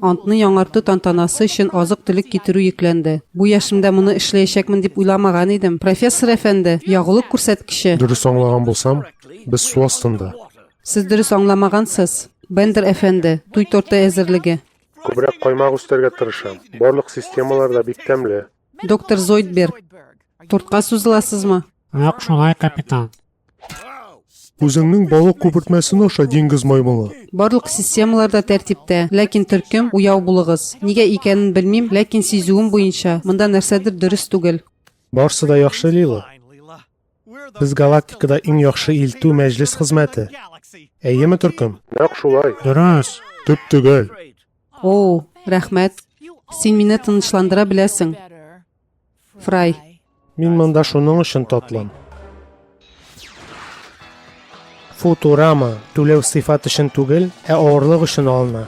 Антны яңарту тантанасы өчен азык-төлек китерү йөкләнде. Бу яшемдә моны эшләячәкмен дип уйламаган идем. Профессор әфәнде, ягулык күрсәткече! Дөрес аңлаган булсам, без су астында. Сез дөрес аңламагансыз, Бендер әфәнде, туй торты әзерлеге. Күбрәк каймак үстәргә тырышам. Барлык системалар да бик тәмле. Доктор Зойдберг, тортка сузыласызмы? Нәкъ шулай, капитан. Үзеңнең балык күпертмәсен аша, диңгез маймылы. Барлык системалар да тәртиптә, ләкин төркем уяу булыгыз. Нигә икәнен белмим, ләкин сизүем буенча, монда нәрсәдер дөрес түгел. Барсы да яхшы, Лила. Без галактикада иң яхшы илтү мәҗлес хезмәте. Әйеме, төркем? Нәкъ шулай. Дөрес. Төп төгәл. О, рәхмәт. Син мине тынычландыра беләсең. Фрай. Мин монда шуның өчен тотлым. Футурама түләү сыйфат өчен түгел, ә авырлык өчен алына.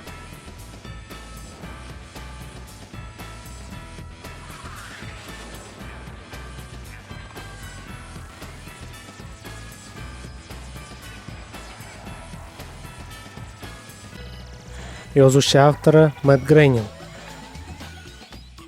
Язучы авторы Мэтт Грейнинг.